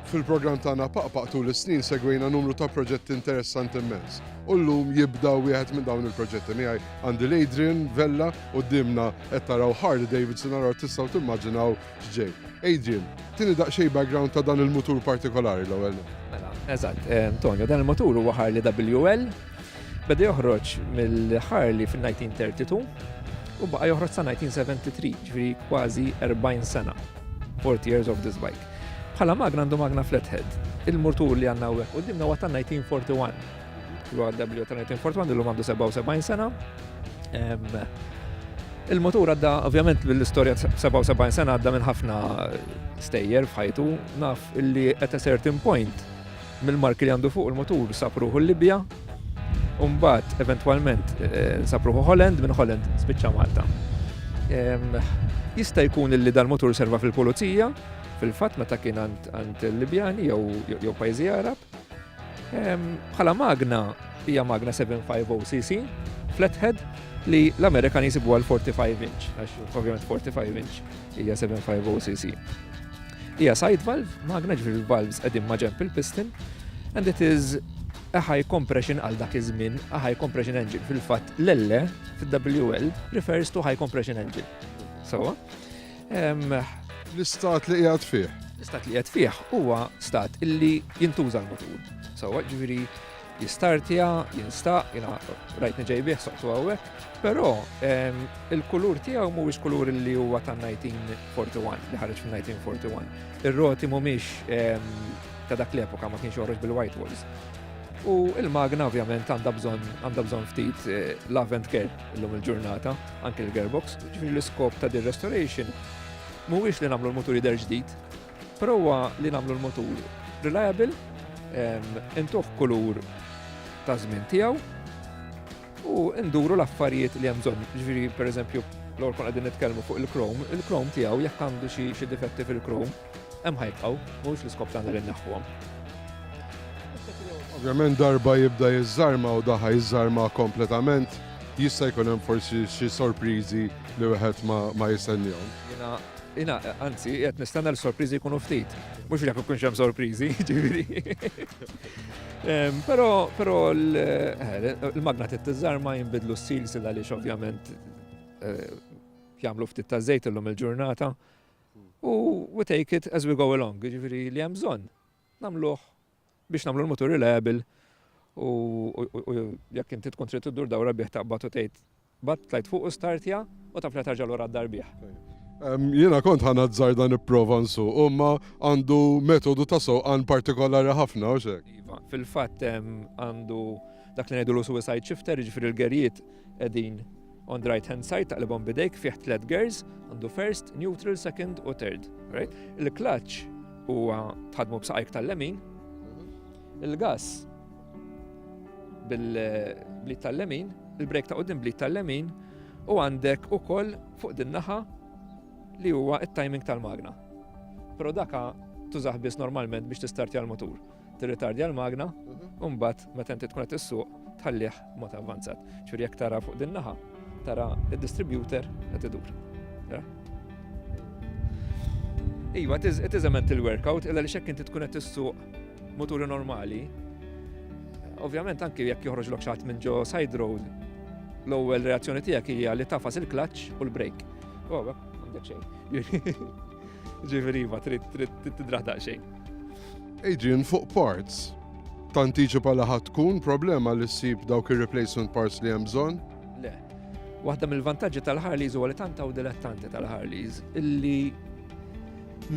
Fil-programm tagħna Paqpaq tul is-snin segwejna numru ta' proġetti interessanti immens. U llum jibda wieħed minn dawn il-proġetti miegħi għandi l-Adrian Vella u dimna qed taraw Harley Davidson għal tistgħu timmaġinaw x'ġej. Adrian, tieni daqsxejn background ta' dan il-mutur partikolari l-ewwel. Mela, eżatt, eh, Antonio, dan il-mutur huwa Harley WL Beda joħroġ mill-Harley fin-1932 u baqa' joħroġ sa 1973, ġifieri kważi 40 sena. 40 years of this bike. Bħala magna għandu magna flathead. Il-murtur li għandna hawnhekk qudiemna huwa ta' 1941. Huwa W ta' 1941 illum għandu 77 sena. Il-motur għadda, ovvjament, l-istoria 77 sena għadda minn ħafna stejjer fħajtu, naf illi at a certain point Mill-marki li għandu fuq il-mutur sab ruħu l-Libja u mbagħad eventwalment sab ruħu Holland, minn Holland spiċċa Malta. Jista' jkun li dal-mutur serva fil-pulizija, fil-fatt meta kien għand il-Libjani jew pajjiżi Arab. Bħala magna hija magna 750 cc, flathead, li l-Amerikan jisibu għal 45 inch, għax ovvjament 45 inch hija 750 cc. Hija side valve, magna ġifieri valves qegħdin ma' ġemp il-piston, and it is a high compression għal dak iż-żmien, a high compression engine. Fil-fatt l-elle fil-WL refers to high compression engine. Sawa? L-istat li qiegħed fih. L-istat li qiegħed fih huwa stat illi jintuża l-motur. Sawa, ġifieri Jistartja, jinstaq, jina rajtni ġejbih soqtu għawek, pero il-kulur tijaw mhuwiex kulur li huwa ta' 1941, li ħarġ fil 1941. Ir-roti mhumiex ta' dak l-epoka ma kienx joħroġ bil-white walls. U il-magna ovvjament għandha bżonn għandha bżonn ftit eh, lavent care illum il-ġurnata, anke l-gearbox, ġifieri l-iskop ta' dir restoration mhuwiex li nagħmlu l-mutur jidher ġdid, Prova li nagħmlu l-motur reliable, intuħ kulur ta' żmien tiegħu u nduru l-affarijiet li hemm bżonn. Ġifieri pereżempju l-għor kon għadin nitkellmu fuq il-krom, il-krom tiegħu jekk għandu xi difetti fil-krom, hemm ħajbqgħu, mhux l-iskop tagħna li naħħuhom. Ovvjament darba jibda jiżżarma u daħħa jiżżarma kompletament, jista' jkun hemm forsi xi sorpriżi li wieħed ma jistennihom. Jiena, anzi, qed nistenna li sorpriżi jkunu ftit. Mhux li jkunx hemm sorpriżi, ġifieri. Però però eh, l-magna tittiżar ma jinbidlu s-silsil għaliex ovvjament eh, jagħmlu ftit ta' żejt illum il-ġurnata. U we take it as we go along, ġifieri li hemm bżonn. Nagħmluh biex nagħmlu l-mutur reliable u jekk inti tkun trid iddur dawra bih taqbad u tgħid bat tlajt fuq u startja u taf li tarġa' lura d-dar bih. Jiena kont ħanazzar dan ipprova nsuq, imma għandu metodu ta' sewqan partikolari ħafna u xek. Iva, fil-fatt għandu dak li ngħidu l-suicide shifter, jiġifieri l-gerjiet Qegħdin on the right hand side taqlibhom bidejk fih tliet gears, għandu first, neutral, second u third. Right? Il-clutch huwa tħadmu b'saqajk tal-lemin, il-gas bil-blit tal-lemin, il-brek ta' qudiem blit tal-lemin u għandek ukoll fuq din naħa li huwa it-timing tal-magna. Però daka tużaħ biss normalment biex tistartja l-motur. tirritardja l-magna, u mbagħad meta inti tkun qed issuq tħallih mod avvanzat. Ġifieri jekk tara fuq din naħa, tara id-distributor qed idur. Iva, it is a mental workout, illa li xekk inti tkun qed issuq moturi normali, ovvjament anki jekk joħroġ lok xaħat minn ġo side road, l-ewwel reazzjoni tiegħek hija li tafas il-clutch u l-brake. Oh, għandek xejn. Ġifieri iva, trid tidraħ daqsxejn. Adrian fuq parts. Tantiċipa li ħadd tkun problema li ssib dawk ir-replacement parts li hemm bżonn? Le. Waħda mill-vantaġġi tal-Harleys huwa li tant hawn dilettanti tal-Harleys illi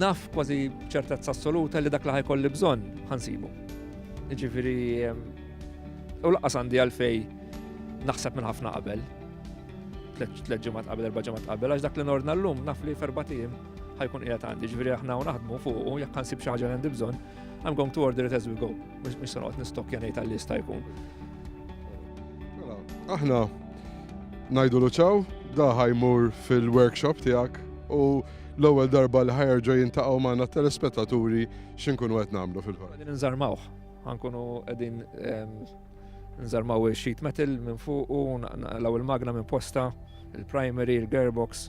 naf kważi ċertezza assoluta li dak li ħajkolli bżonn ħansibu. Ġifieri u laqas għandi għalfej naħseb minn ħafna qabel. Tleġġimat qabel, erba' ġemat qabel, għax dak li nordna llum naf li ferbatijiem. ħajkun qiegħed għandi, ġifieri aħna u naħdmu fuq u jekk nsib xi ħaġa għandi bżonn, I'm going to order it as we go. Mhux se noqgħod nistokkja ngħid għall-lista jkun. Mela, aħna ngħidu luċaw, da ħajmur fil-workshop tiegħek u l-ewwel darba li ħajerġa' jintaqgħu magħna telespettaturi x'inkunu qed nagħmlu fil-ħar. Qegħdin nżarmawh, ħankunu qegħdin ehm, nżarmaw il-sheet metal minn fuq u l-ewwel magna minn posta, il-primary, il-gearbox,